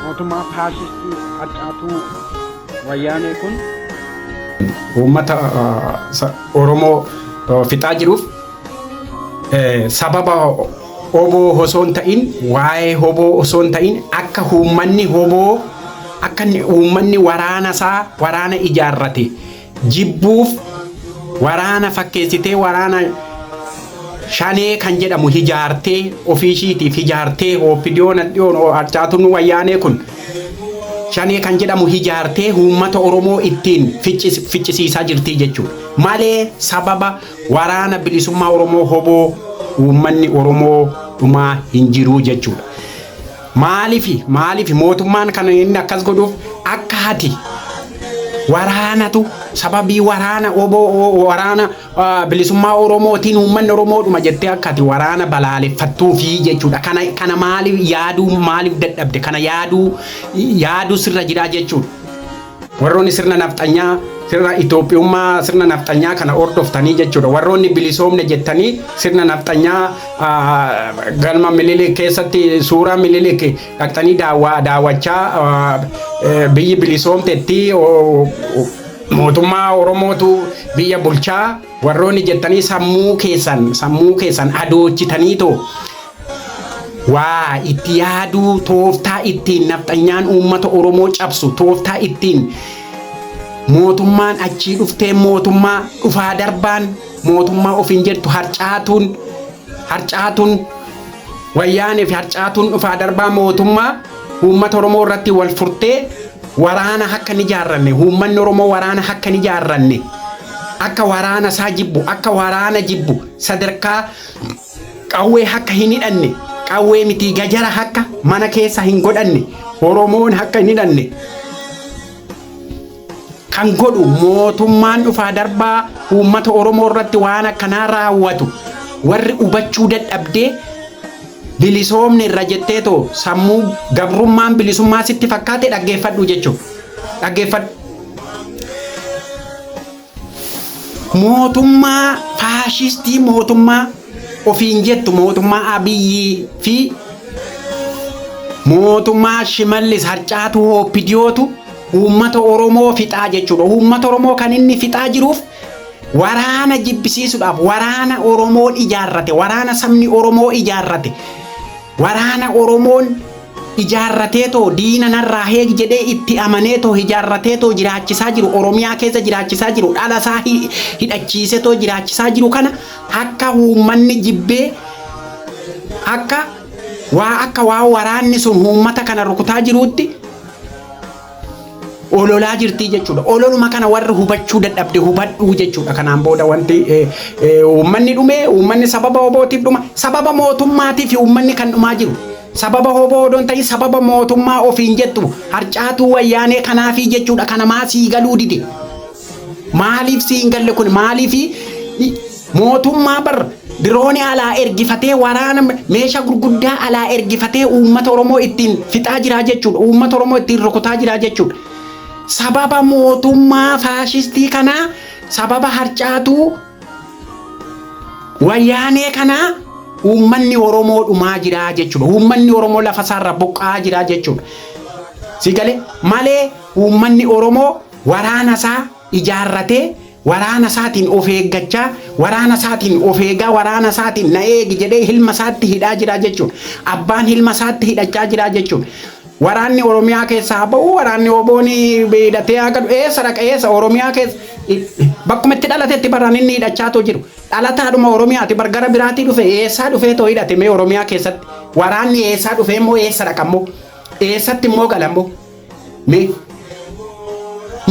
mootummaa faashistii harcaatuu wayyaanee kun uummata Oromoo fixaa jiruuf sababa hoboo osoo hin ta'in waa'ee hoboo osoo hin ta'in akka uummanni hoboo akka uummanni waraana isaa waraana ijaarrate jibbuuf waraana fakkeessitee waraana shanee kan jedhamu hijaartee ofii ishiitiif hijaartee ooppidiyoon hadhiyoon harcaatuun wayyaanee kun shanee kan jedhamu hijaartee uummata Oromoo ittiin ficcis- ficcisiisaa jirtii jechuudha. Malee sababa waraana bilisummaa Oromoo hoboo uummanni Oromoo dhumaa hin jiruu jechuudha. Maalifi maalifi mootummaan kan inni akkas godhuuf akka hati waraanatu sababii waraana oboo waraana ah, bilisummaa Oromootiin uummanni Oromoodhuma jettee akka ati waraana balaaleffattuufi jechuudha. Kana kana maaliif yaaduu maaliif dadhabde kana yaaduu yaaduu sirra jiraa jechuudha. Warroonni sirna nafxanyaa sirna Itoophiyummaa sirna nafxanyaa kana hordoftanii jechuudha. Warroonni bilisoomne jettanii sirna nafxanyaa galma Minilik keessatti suuraa Minilik dhaqxanii daawwachaa biyyi bilisoomtetti mootummaa Oromootu biyya bulchaa warroonni jettanii sammuu keessan sammuu keessan adoochitaniitoo Waa itti yaaduu tooftaa ittiin nafxanyaan uummata Oromoo cabsu, tooftaa ittiin mootummaan achii dhufteen mootummaa dhufaa darbaan mootummaa ofiin jettu harcaatuun harcaatuun wayyaanee fi harcaatuun dhufaa darbaa mootummaa uummata Oromoo irratti wal furtee waraana akka hin ijaarranne uummanni Oromoo waraana akka hin ijaarranne akka waraana isaa jibbu akka waraana jibbu sadarkaa Qawwee hakka hin hidhanne qawwee mitii gajara hakka mana keessa hin godhanne oromoon hakka hin hidhanne kan godhu mootummaan dhufaa darbaa uummata oromoo irratti waan akkanaa raawwatu warri hubachuu dadhabdee bilisoomne irra jettee too sammuu gabrummaan bilisummaa sitti fakkaate dhaggeeffadhu jechuudha dhaggeeffadhu. mootummaa faashistii mootummaa ofiin jettu mootummaa Abiyyii fi mootummaa Shimallis harcaatu hooppidiyootu uummata Oromoo fixaa jechuudha. Uummata Oromoo kan inni fixaa jiruuf waraana jibbisiisuudhaaf waraana Oromoon ijaarrate waraana sabni Oromoo ijaarrate Waraana Oromoon ijaarrateetoo diina narraa eegi jedhee itti amaneetoo hijaarrateetoo jiraachisaa jiru, Oromiyaa keessa jiraachisaa jiru, dhalasaa hidhachiisetoo jiraachisaa jiru kana akka uummanni jibbee akka waa akka waan waraanni sun uummata kana rukutaa jiruutti ololaa jirtii jechuudha. Ololuma kana warri hubachuu dadhabde hubadhuu jechuudha. Kanaan booda wanti eh, eh, uummanni dhume, uummanni sababa obootiif dhuma, sababa mootummaatiif uummanni kan dhumaa jiru. Sababa hoboo odoo hin ta'in sababa mootummaa ofiin jettu harcaatuu wayyaanee kanaafii jechuudha. Kana maa sii galuu dide. Maaliif sii hin galle kun maaliif mootummaa bar diroonii alaa ergifatee waraana meeshaa gurguddaa alaa ergifatee uummata Oromoo ittiin fixaa jiraa jechuudha. Uummata Oromoo ittiin rukutaa jiraa jechuudha. Sababa mootummaa faashistii kanaa sababa harcaatuu wayyaanee kanaa uummanni Oromoo dhumaa jiraa jechuudha. Uummanni Oromoo lafa isaarra buqqa'aa jiraa jechuudha. Si galee malee uummanni Oromoo Waraana isaa ijaarratee, waraana isaatiin of eeggachaa, waraana isaatiin of eegaa, waraana isaatiin na eegi jedhee hilma isaatti hidhaa jira jechuudha. Abbaan hilma isaatti hidhachaa jira jechuudha. Waraanni Oromiyaa keessaa haa ba'uu, waraanni OBOn hidhatee haa galu, eessa dhaqa eessa Oromiyaa keessa bakkuma itti dhalatetti bar an inni hidhachaatoo jiru. Dhalataadhuma Oromiyaati bar gara biraatii dhufe eessaa dhufeetoo hidhate mee Oromiyaa keessatti waraanni eessaa dhufeemmoo eessa dhaqammoo eessatti immoo galammoo. Mee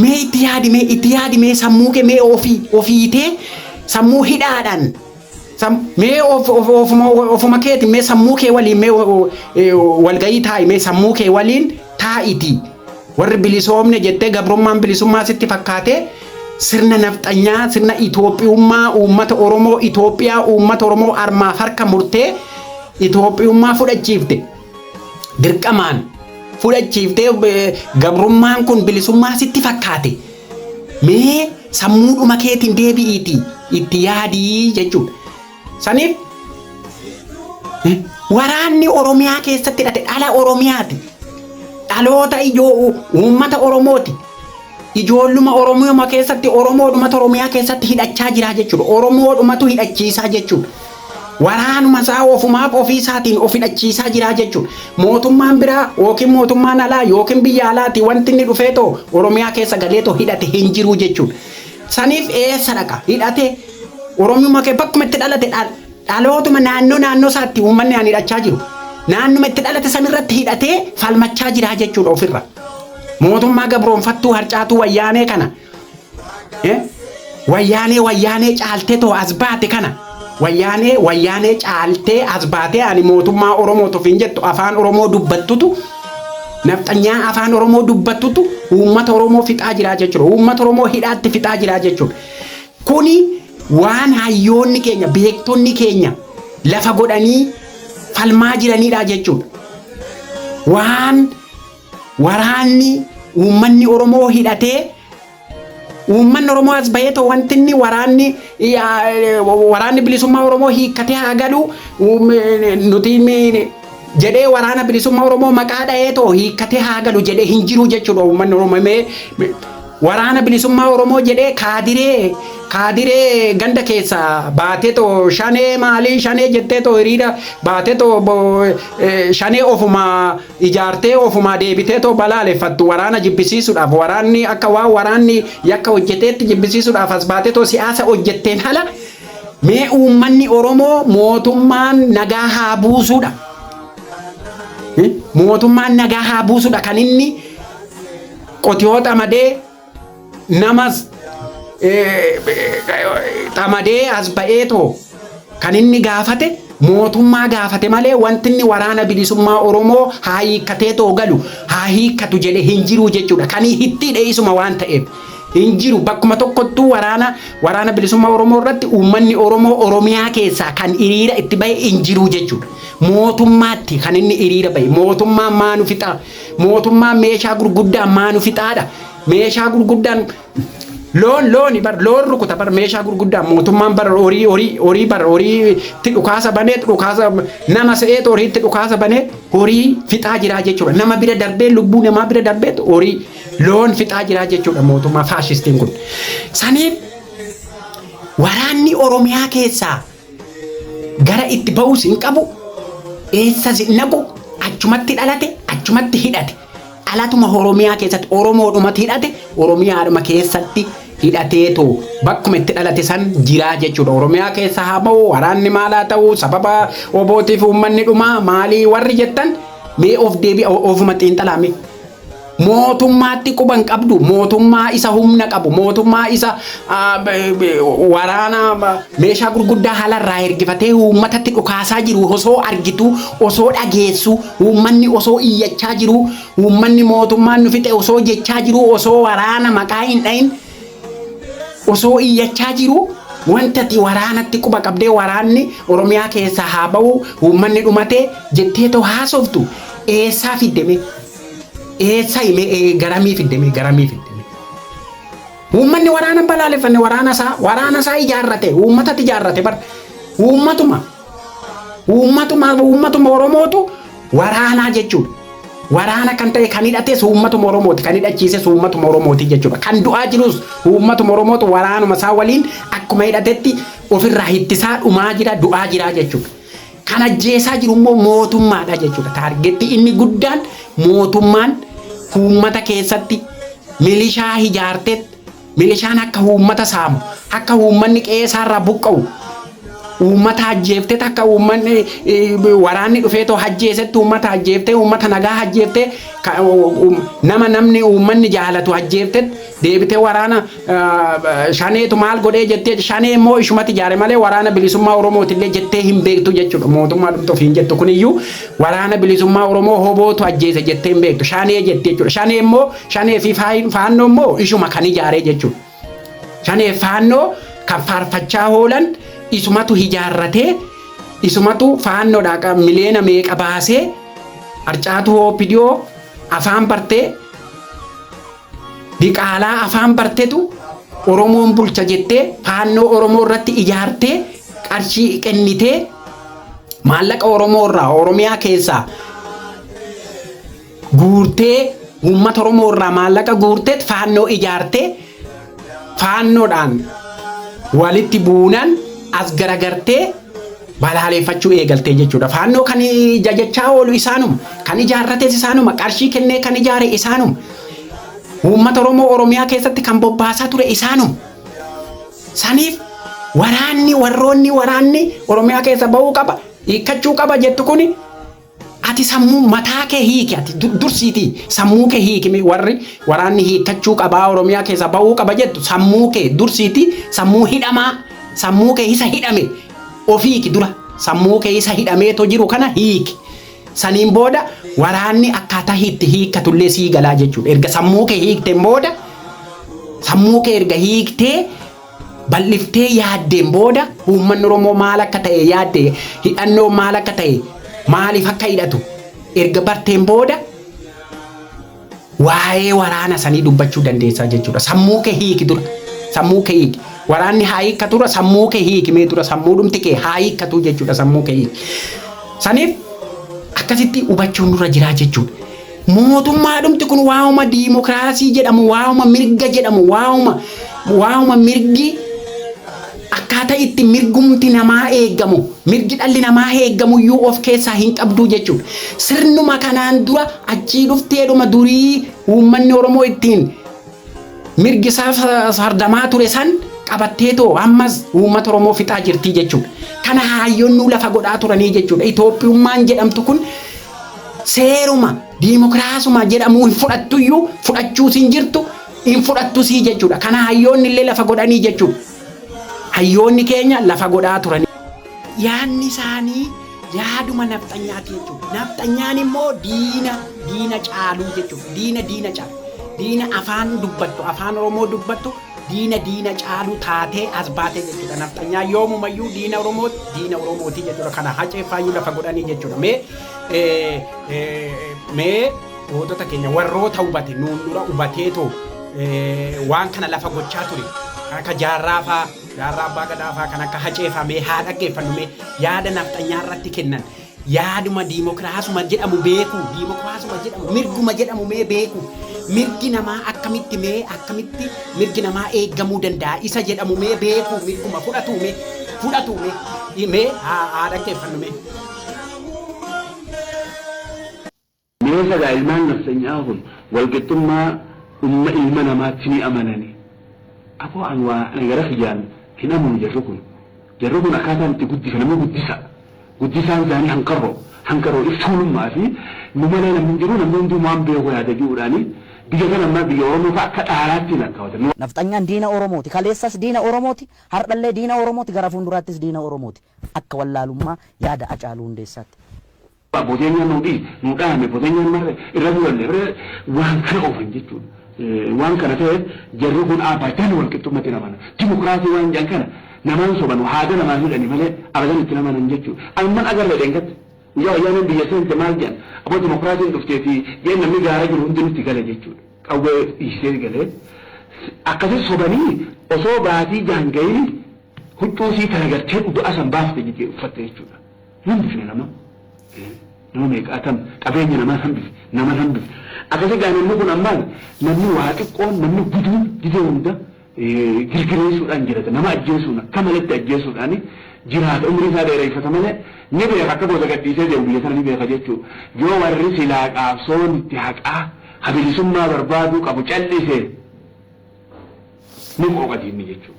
mee itti yaadi mee itti yaadi mee sammuu kee mee ofii ofiitee sammuu hidhaadhaan sam- mee of, of, ofuma, ofuma keeti mee sammuu kee waliin mee wa- wa- eh, walgahii taa'i mee sammuu kee waliin taa'iti warri bilisoomne jettee gabrummaan bilisummaa sitti fakkaatee sirna nafxanyaa sirna Itoophiyummaa uummata Oromoo Itoophiyaa uummata Oromoo armaaf harka murtee Itoophiyummaa fudhachiifte. dirqamaan fudhachiiftee eh, gabrummaan kun bilisummaa sitti fakkaate mee sammuudhuma keetiin deebi'iitii itti yaadii jechuudha. Saniif eh, waraanni Oromiyaa keessatti hidhate dhala Oromiyaati. Dhaloota ijoo u- uummata Oromooti. Ijoolluma Oromiyaa keessatti Oromoodhumatu Oromiyaa keessatti hidhachaa jira jechuudha. Oromoodhumatu hidhachiisaa jechuudha. Waraanuma isaa ofumaaf ofii isaatiin of hidhachiisaa jiraa jechuudha. Mootummaan biraa yookiin mootummaan alaa yookiin biyya alaatii wanti inni dhufee too Oromiyaa keessa galee too hidhate hin jiruu jechuudha. Saniif eessa dhaqa? Hidhate Oromiyuma kee bakkuma itti dhalate dhal- dhalootuma naannoo naannoo isaatti uummanni aan hidhachaa jiru. Naannuma itti dhalate sanirratti hidhatee falmachaa jiraa jechuudha ofirra. Mootummaa gabroonfattuu harcaatuu wayyaanee kana Eh? Wayyaanee wayyaanee caaltee too as baate kana. Wayyaanee wayyaanee caaltee as baatee ani mootummaa Oromoo tofiin jettu afaan Oromoo dubbattutu nafxanyaa afaan Oromoo dubbattutu uummata Oromoo fixaa jiraa jechuudha. Uummata Oromoo hidhaatti fixaa jiraa jechuudha. Kuni waan hayyoonni keenya beektonni keenya lafa godhanii falmaa jiranidha jechuudha. Waan Waraanni uummanni Oromoo hidhatee uummanni Oromoo as bahee ta'u wanti inni waraanni waraanni bilisummaa Oromoo hiikkatee haa galu nuti jedhee waraana bilisummaa Oromoo maqaa dha'ee ta'u hiikkatee haa galu jedhee hin jiru jechuudha uummanni Oromoo mee waraana bilisummaa Oromoo jedhee kaadiree kaadiree ganda keessa baatee ta'u shanee maalii shanee jettee ta'u hiriira baatee ta'u shanee ofuma ijaartee ofumaa deebiteetoo balaaleffattu waraana jibbisiisuudhaaf waraanni akka waan waraanni yakka hojjeteetti jibbisiisuudhaaf as baatetoo siyaasa hojjetteen ala mee uummanni Oromoo mootummaan nagaa haa buusuudha. Eh, Mootummaan nagaa haa buusuudha kan inni qotiyoo xamadee namas xamadee as ba'ee too kan inni gaafate mootummaa gaafate malee wanti inni waraana bilisummaa Oromoo haa hiikkatee too galu haa hiikkatu jedhe hin jiru jechuudha. Kan hittiidhe isuma waan ta'eef hin jiru bakkuma tokkottuu waraana waraana bilisummaa Oromoo irratti uummanni Oromoo Oromiyaa keessaa kan hiriira itti bahe hin jiru jechuudha. Mootummaatti kan inni hiriira bahe mootummaan maa nu fixaa Mootummaan meeshaa gurguddaan maa nu fixaadha? Meeshaa gurguddaan loon looni bar loon rukuta bar meeshaa gurguddaan mootummaan bar horii horii horii bar horiitti dhukaasa banee dhukaasa nama se'eet horiitti dhukaasa banee horii fixaa jiraa jechuudha. Nama bira darbee lubbuu namaa bira darbeet horii loon fixaa jiraa jechuudha mootummaa faashistiin kun. Saniif waraanni Oromiyaa keessaa Gara itti ba'us hin qabu, eessas hin dhaqu, achumatti dhalate, achumatti hidhate. Dhalatuma Oromiyaa keessatti Oromoodhumatu hidhate, Oromiyaadhuma keessatti hidhateetu bakkuma itti dhalate san jiraa jechuudha. Oromiyaa keessa haa ba'u, waraanni maal haa ta'u, sababa obootiif uummanni dhumaa maalii warri jettan mee of deebi'a ofuma xiinxalaame. Mootummaatti quba hin qabdu. Mootummaa isa humna qabu, mootummaa isa ah, b- b- waraana ah, meeshaa gurguddaa haala irraa ergifatee uummatatti dhukaasaa jiru osoo argitu, osoo dhageessu, uummanni osoo iyyachaa jiru, uummanni mootummaan nu fixe osoo jechaa jiru, osoo waraana maqaa hin dhahin Osoo iyyachaa jiruu wanta ati waraanatti quba qabdee waraanni Oromiyaa keessaa haa bahu uummanni dhumate jettee too haasoftu eessaa fidde mee? Eessaa himee ee garamii fidde mee garamii fidde mee? Uummanni waraana hin balaaleffanne waraana isaa waraana isaa ijaarrate uummatatti ijaarrate bar uummatuma. Uummatuma uummatuma Oromootu waraanaa jechuudha. Waraana kan ta'e kan hidhates uummatuma Oromooti kan hidhachiises uummatuma Oromooti jechuudha. Kan du'aa jirus uummatuma Oromootu waraanuma isaa waliin akkuma hidhatetti ofirraa hittisaa dhumaa jira du'aa jira jechuudha. Kan ajjeesaa jiru immoo mootummaadha jechuudha. Taargetti inni guddaan mootummaan uummata keessatti milishaa hijaartetti Milishaan akka uummata saamu, akka uummanni qe'ee isaarraa buqqa'u, uummata ajjeefteet akka uummanni waraanni dhufeetoo ajjeesetti uummata ajjeeftee, uummata nagaa ajjeeftee, nama namni uummanni jaalatu ajjeefteet deebitee waraana shaneetu maal godhee jettee shanee immoo ishumatti ijaare malee waraana bilisummaa Oromootillee jettee hin beektu jechuudha. Mootummaa dhumti ofiin jettu kuniyyuu waraana bilisummaa Oromoo hobootu ajjeese jettee hin beektu. Shanee jetti jechuudha. Shanee immoo Shanee fi faannoo immoo ishuma kan ijaaree jechuudha. Shanee faannoo kan faarfachaa hoolan isumatu ijaarratee isumatu faannoodhaa miliyoona meeqa baasee harcaatu hoopidiyoo afaan bartee diqaalaa afaan bartetu Oromoon bulcha jettee faannoo Oromoo irratti ijaartee qarshii kennitee maallaqa Oromoo irraa Oromiyaa keessaa guurtee uummata Oromoo irraa maallaqa guurteet faannoo ijaartee faannoodhaan walitti buunan as garagartee balaaleeffachuu eegaltee jechuudha. Faannoo kan jajachaa oolu isaanuma, kan ijaarrates isaanuma, qarshii kennee kan ijaare isaanuma, uummata Oromoo Oromiyaa keessatti kan bobbaasaa ture isaanuma. Saniif waraanni warroonni waraanni Oromiyaa keessa ba'uu qaba, hiikkachuu qaba jettu kuni Ati sammuu mataa kee hiiki ati dursiitii sammuu kee hiiki mee warri waraanni hiikkachuu qabaa oromiyaa keessaa ba'uu qaba jettu sammuu kee dursiitii sammuu hidhamaa sammuu kee isa hidhame of hiiki dura sammuu kee isa hidhamee to jiru kana hiiki saniin booda waraanni akkaataa hiitti hiikkatullee sii galaa jechuudha erga sammuu kee hiikteen booda sammuu kee erga hiiktee bal'iftee yaaddeen booda uummanni Oromoo maal akka ta'e yaadde hidhannoon maal akka ta'e maaliif akka hidhatu erga barteen booda waa'ee waraana sanii dubbachuu dandeessaa jechuudha. Sammuu kee hiiki dura. Sammuu kee hiiki. Waraanni haa hiikkatu dura sammuu kee hiiki mee dura sammuu dhumti kee haa hiikkatu jechuudha sammuu kee hiiki. Saniif akkasitti hubachuun nurra jiraa jechuudha. Mootummaadhumti kun waa'uma diimokiraasii jedhamu, waa'uma mirga jedhamu, waa'uma waa'uma mirgi akkaataa itti mirgumti namaa eegamu, mirgi dhalli namaa eegamu iyyuu of keessaa hin qabdu jechuudha. Sirnuma kanaan dura achii dhufteedhuma durii uummanni Oromoo ittiin mirgi isaa sa- sardamaa ture san qabattee too ammas uummata Oromoo fixaa jirti jechuudha. Kana haayyoonnuu lafa godhaa turanii jechuudha. Itoophiyummaan jedhamtu kun Seeruma diimokiraasuma jedhamu hin fudhattuyyuu fudhachuus hin jirtu hin fudhattusii jechuudha. Kana hayyoonni illee lafa godhanii jechuudha. Hayyoonni keenya lafa godhaa turanii. Yaadni isaanii yaaduma nafxanyaati jechuudha. Nafxanyaan immoo diina diina caaluu jechuudha. Diina diina caalu. Diina afaan dubbattu afaan Oromoo dubbattu diina diina caalu taatee as baate jechuudha nafxanyaa yoomumayyuu diina oromoo diina oromootii jechuudha kana hacee faayyuu lafa godhanii jechuudha mee eh, eh, mee gootota keenya warroota hubate nuun dura hubateetoo eh, waan kana lafa gochaa ture kan akka jaarraa faa jaarraa abbaa gadaa faa kan akka hacee faa mee haa dhaggeeffannu mee yaada nafxanyaa irratti kennan Yaaduma diimokiraasuma jedhamu beekuu, diimokiraasuma jedhamu, mirguma jedhamu mee beekuu, mirgi namaa akkamitti mee akkamitti mirgi namaa eeggamuu danda'a isa jedhamu mee beekuu, mirguma fudhatuu mee, fudhatuu mee, i- mee haa haa dhaggeeffannu mee. Meeqa dha ilmaan nafxenyaa kun walqixxummaa umma ilma namaatti ni amanani? Aboo an waa ana gara kiyyaan hin amanu jarri kun. Jarri kun akkaataan itti guddifanamu guddisa. Guddisaan isaanii hanqarro. Hanqarro if tuulummaa fi nu malee namni hin jiru namni hunduu waan beeku yaada ji'uudhaani biyya kana ammaa biyya Oromoo fa'a akka dhaalaatti hin lakkaawatan. Nafxanyaan diina Oromooti. Kaleessas diina Oromooti, hardhallee diina Oromooti, gara fuunduraattis diina Oromooti. Akka wallaalummaa yaada Acaaluu Hundeessaatti. Boteenyaan nuu dhiite, nuu dhaame, boteenyaan marre, irra du'anne, irra waan kana oofan jechuudha. Waan kana ta'eef jarri kun abadan walqixxummatti hin amanan. Dimokiraasii waan jedhan kana namaan sobanu, haada namaan hidhani malee abadan itti hin amanan jechuudha. Anumman agarre dheengadda. Guyyaa Wayyaaneen biyya seente maal jedhan? Aboo dimokiraasiin dhufteeti jeen namni gaara jiru hundi nutti gale jechuudha. Qawwee dhiisee galee. Akkasi sobanii osoo baatii jaha hin gahiini. Huccuu isii tana gartee dhuga'a san baafte miti uffatte jechuudha. Hin hambifne nama. Nama meeqa atam qabeenya namaan hambifne. Naman hambifne. Akkasi gaa namni kun ammaal namni waa xiqqoon namni guduun gizee hunda girgireessuudhaan jirata. Nama ajjeesuun akka maletti ajjeesuudhaan jiraata. Umrii isaa dheereyfata malee ni beeka akka gosa gadhiisee deemu biyya tana ni beeka jechuu. Yoo warri silaa qaabsoon itti haqaa ka bilisummaa barbaaduu qabu cal'ise. Ni qooqa diinni jechuun.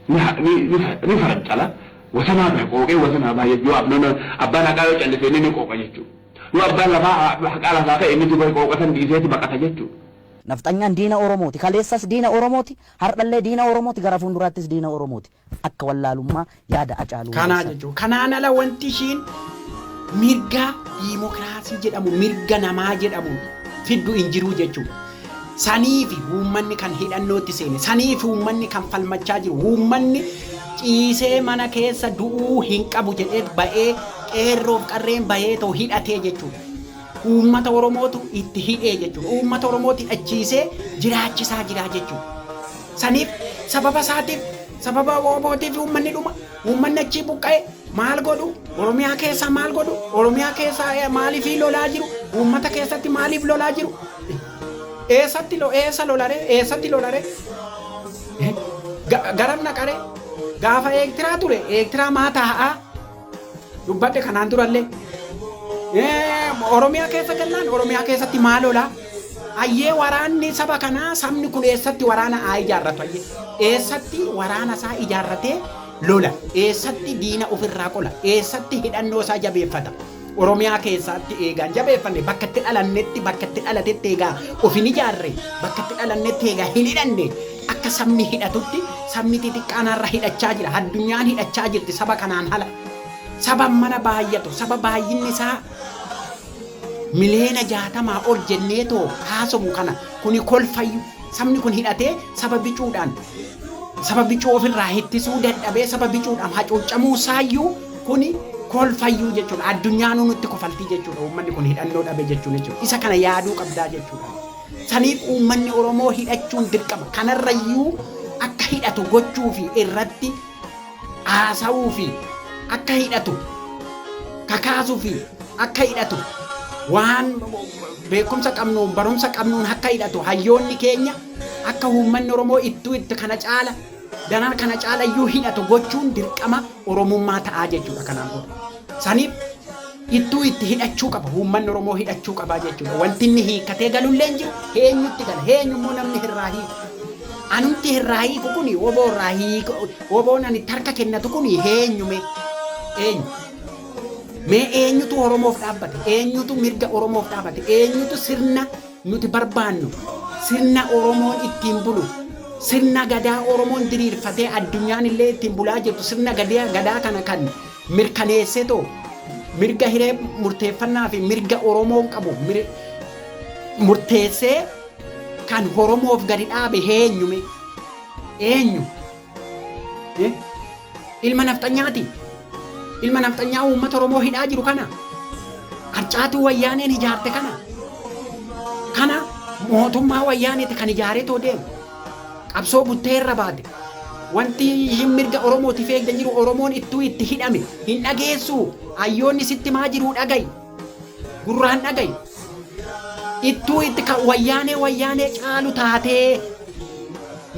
Ni ha- ni- ni fa- ni farancala. Wasanaa bira qooqee wasanaa baa jechuun. Yoo abnoon abbaan haqaa yoo callise inni ni qooqa jechuun. Yoo abbaan lafaa ha- haqaa lafaa ka'e inni duba qooqa san dhiiseeti baqata jechuun. Nafxanyaan diina Oromooti. Kaleessas diina Oromooti, hardhallee diina Oromooti, gara fuunduraattis diina Oromooti. Akka wallaalummaa yaada Acaaluu Kanaa Hundeessaa. jechuun kanaan ala wanti ishiin mirga diimokiraasii jedhamu mirga namaa jedhamu fiddu hin jiruu jechuudha. Saniifi uummanni kan hidhannootti seene, saniifi uummanni kan falmachaa jiru, uummanni ciisee mana keessa du'uu hin qabu jedheet ba'ee qeerroof qarreen baheetoo hidhatee jechuudha. Uummata Oromootu itti hidhee jechuudha. Uummata Oromooti hidhachiisee jiraachisaa jira jechuudha. Saniif sababa isaatiif sababa WBOtiif uummanni dhuma, uummanni achii buqqa'e maal godhu, Oromiyaa keessaa maal godhu, Oromiyaa keessaa eh, maaliifii lolaa jiru, uummata keessatti maaliif lolaa jiru, eessatti lo- eessa lolare, eessatti lolare, Ga- garam naqare, gaafa eektiraa ture, eektiraa maa taa'aa, dubbadhe kanaan durallee Oromiyaa keessa gallaan Oromiyaa keessatti maal oolaa ayyee waraanni saba kanaa sabni kun eessatti waraana haa ijaarratu ayyee eessatti waraana isaa ijaarratee lola eessatti diina ofirraa qola eessatti hidhannoo isaa jabeeffata Oromiyaa keessatti eegaan jabeeffanne bakka itti dhalannetti bakka itti dhalatetti eegaa of hin ijaarre bakka itti dhalannetti eegaa hin hidhanne Akka sabni hidhatutti sabni xixiqqaan har'a hidhachaa jira. Addunyaan hidhachaa jirti saba kanaan ala. Saba mana baay'atu, saba baay'inni isaa miliyoona jaatamaa ol jennee too haasofnu kana kuni kolfayyu. Sabni kun hidhatee saba bicuudhaan saba bicuu ofirraa hittisuu dadhabee saba bicuudhaan hacuuccamuu saayyuu kuni kolfayyuu jechuudha. Addunyaanuu nutti kofaltii jechuudha. Uummanni kun hidhannoo dhabe jechuun jechuudha. Isa kana yaaduu qabdaa jechuudha. Saniif uummanni Oromoo hidhachuun dirqama. Kanarrayyuu akka hidhatu gochuu fi irratti haasawuu fi akka hidhatu kakaasuu fi akka hidhatu waan beekumsa qabnuun barumsa qabnuun akka hidhatu hayyoonni keenya akka uummanni Oromoo ittuu itti kana caala daran kana caalayyuu hidhatu gochuun dirqama. Oromummaa ta'aa jechuudha kanaan booda. Saniif ittuu itti hidhachuu qaba. Uummanni Oromoo hidhachuu qabaa jechuudha. Wanti inni hiikkatee galullee hin jiru. Heenyutti gala. Heenyu immoo namni hirraa hiiku. Anumti hirraa hiiku kuni oboo irraa hiiku. Oboon ani itti harka kennatu kuni heenyu mee? Eenyu? Mee eenyutu Oromoof dhaabbate? Eenyutu mirga Oromoof dhaabate? Eenyutu sirna Nuti barbaannu sirna Oromoon ittiin bulu, sirna Gadaa Oromoon diriirfatee addunyaan illee ittiin bulaa jirtu sirna Gadaa kana kan mirkaneessetoo mirga hiree murteeffannaa fi mirga Oromoon qabu murteessee kan Oromoof gadi dhaabe eenyume? Eenyu? Eh? Ilma nafxanyaati. Ilma nafxanyaa uummata Oromoo hidhaa jiru kana. Harcaatuu wayyaaneen ijaarte kana. Kana mootummaa wayyaaneeti kan ijaaree too deemu. Qabsoo buttee irra baate. Wanti ishiin mirga Oromootiif eegda jiru Oromoon ittuu itti hidhame hin dhageessu. Hayyoonni sitti maa jiru dhagayi. Gurraan dhagayi. Ittuu itti kan wayyaanee wayyaanee caalu taatee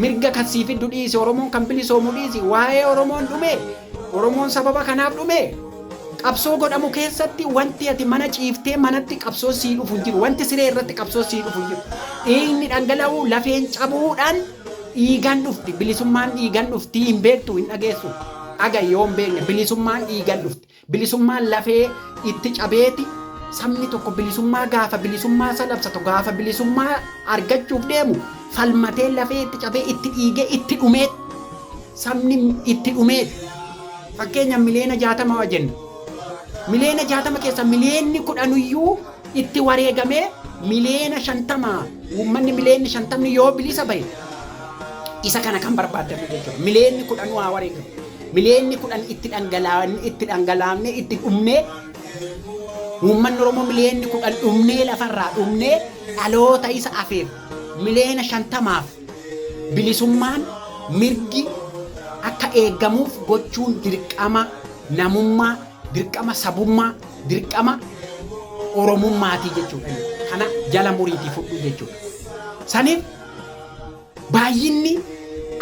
mirga kan sii fiddu dhiisi Oromoon kan bilisoomu dhiisi waa'ee Oromoon dhume Oromoon sababa kanaaf dhume qabsoo godhamu keessatti wanti ati mana ciiftee manatti qabsoon sii dhufu hin jiru wanti siree irratti qabsoon sii dhufu hin jiru dhiigni dhangala'uu lafeen cabuudhaan dhiigan dhufti bilisummaan dhiigan dhufti hin beektu hin dhageessu aga yoo hin beekne bilisummaan dhiigan dhufti Bilisummaan lafee itti cabeeti sabni tokko bilisummaa gaafa bilisummaa isa labsatu gaafa bilisummaa argachuuf deemu falmatee lafee itti cabee itti dhiigee itti dhumee sabni itti dhumeeti. Fakkeenya miliyoona jaatama waa jenna. Miliyoona jaatama keessa miliyoonni kudhanuyyuu itti wareegamee miliyoona shantama uummanni miliyoonni shantamni yoo bilisa bahe isa kana kan barbaaddannu jechuudha. Miliyoonni kudhanuu haa wareegamu. Miliyeenni kudhan itti dhangalaa'anii itti dhangalaamnee itti dhumnee uummanni Oromoo miliyeenni kudhan dhumnee lafarraa dhumnee dhaloota isa afeef miliyeena shantamaaf bilisummaan mirgi akka eegamuuf gochuun dirqama namummaa, dirqama sabummaa, dirqama Oromummaatii jechuudha. Kana jala muriitii fudhu jechuudha. Saniif Baay'inni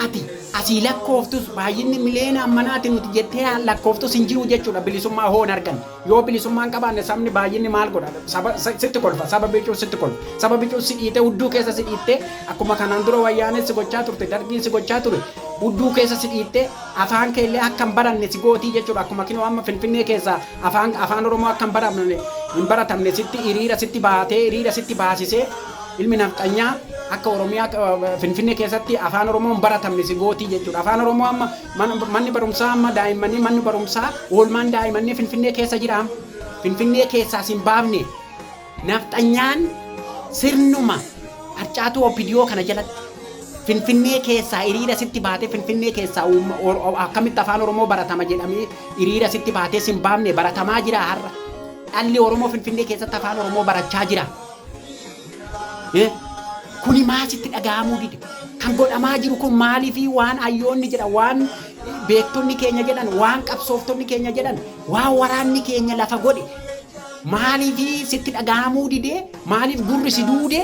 ati asii lakkooftus, baay'inni miliyoona ammanaa ati nuti jettee lakkooftus hin jiru jechuudha. Bilisummaa hoo hin arganne. Yoo bilisummaa hin qabaanne sabni baay'inni maal godha? Saba, sa- sitti kolfa, saba bicuun sitti kolfa. Saba bicuun si dhiitee hudduu keessa si dhiittee akkuma kanaan dura wayyaaneen si gochaa turte, dargiin si gochaa ture, hudduu keessa si dhiittee afaan kee illee akka hin baranne si gootii jechuudha. Akkuma kinoo amma Finfinnee keessaa afaan, afaan Oromoo akka hin baramne, hin baratamne sitti hiriira sitti baatee, hiriira sitti baasisee Ilmi nafxanyaa akka Oromiyaa eh, Finfinnee keessatti afaan Oromoon baratamne si gootii jechuudha. Afaan Oromoo amma man- manni barumsaa amma daa'immanii manni barumsaa oolmaan daa'immanii Finfinnee keessa jiraam. Finfinnee keessaa sin baafne. Nafxanyaan sirnuma harcaatuu OPDO kana jalatti Finfinnee keessaa hiriira sitti baatee Finfinnee keessaa uumma- or- or- akkamitti afaan Oromoo baratama jedhamee hiriira sitti baatee sin baafne baratamaa jira har'a. Dhalli Oromoo Finfinnee keessatti afaan Oromoo barachaa jira. Eh, Kuni maal sitti dhaga'amuu dide? Kan godhamaa jiru kun maaliifi waan hayyoonni jedhan, waan beektonni keenya jedhan, waan qabsooftonni keenya jedhan, waan waraanni keenya lafa godhe maaliifi sitti dhaga'amuu dide? Maaliif gurri si duude?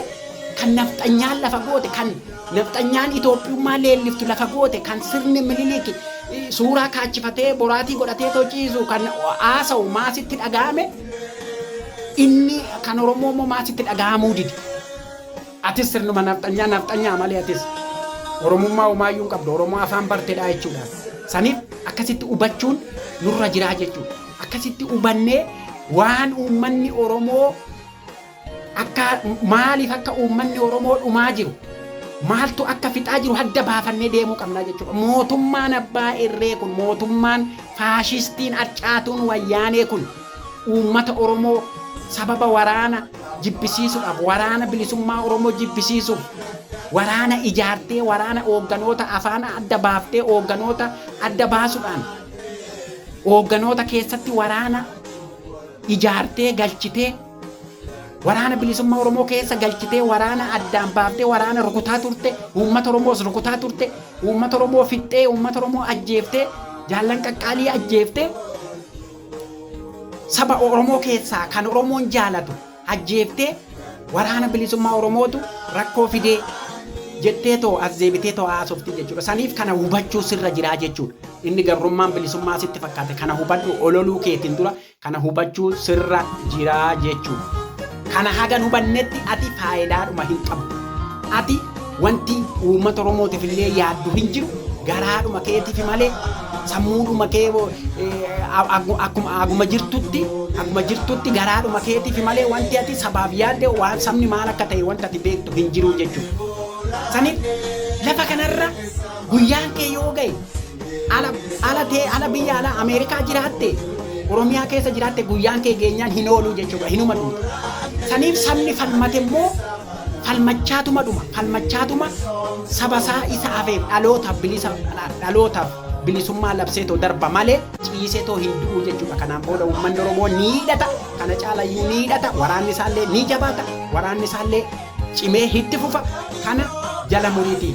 Kan nafxanyaan lafa goote, kan nafxanyaan Itoophiyummaa leelliftu lafa goote, kan sirni Minilik eh, suuraa kaachifatee boraatii godhatee too ciisu kan haasa'u maa sitti dhaga'ame? Inni kan Oromoo immoo maaf sitti dhagahamuu dide? Atis sirnuma nafxanyaa nafxanyaa malee atis Oromummaa homaayyuu hin qabdu. Oromoo afaan bartedhaa jechuudha. Saniif akkasitti hubachuun nurra jiraa jechuudha. Akkasitti hubannee waan uummanni Oromoo Akka maaliif akka uummanni Oromoo dhumaa jiru, maaltu akka fixaa jiru hadda baafannee deemuu qabnaa jechuudha. Mootummaan abbaa irree kun, mootummaan faashistiin arcaatuun Wayyaanee kun uummata Oromoo sababa waraana jibbisiisuudhaaf, waraana bilisummaa Oromoo jibbisiisuuf waraana ijaartee, waraana oogganoota afaan adda baaftee, oogganoota adda baasuudhaan, oogganoota keessatti waraana ijaartee galchitee, Waraana bilisummaa Oromoo keessa galchitee waraana addaan baaftee waraana rukutaa turte uummata Oromoos rukutaa turte uummata Oromoo fixxee uummata Oromoo ajjeeftee jaallan qaqqaalii ajjeeftee saba Oromoo keessaa kan Oromoon jaalatu ajjeeftee waraana bilisummaa Oromootu rakkoo fidee jettee too as deebitee too haasofti jechuudha. Saniif kana hubachuu sirra jiraa jechuudha. Inni gabrummaan bilisummaa sitti fakkaate kana hubadhu ololuu keetiin dura Kana hubachuu sirra jira jechuudha. Kana hagan hubannetti ati faayidaadhuma hin qabdu. Ati wanti uummata Oromootiif illee yaaddu hin jiru. Garaadhuma keetiif malee sammuudhuma kee akkuma aguma jirtutti aguma jirtutti garaadhuma keetiif malee wanti ati sabaaf yaadde waan sabni maal akka ta'e wanta ati beektu hin jiru jechuudha. Saniif lafa kanarra guyyaan kee yoo ga'e Ala ala tee ala biyya ala Ameerikaa jiraatte Oromiyaa keessa jiraatte guyyaan kee geenyaan hin ooluu jechuudha hinuma dhumta. Saniif sabni falmate immoo falmachaatuma dhuma falmachaatuma saba isaa isa hafeef dhalootaaf bilisa dhalootaaf bilisummaa labsee too darba malee ciisee too hin du'u jechuudha. Kanaan booda uummanni Oromoo ni hidhata kana caala iyyuu ni hidhata waraanni isaallee ni jabaata waraanni isaallee cimee itti fufa kana jala muriitii.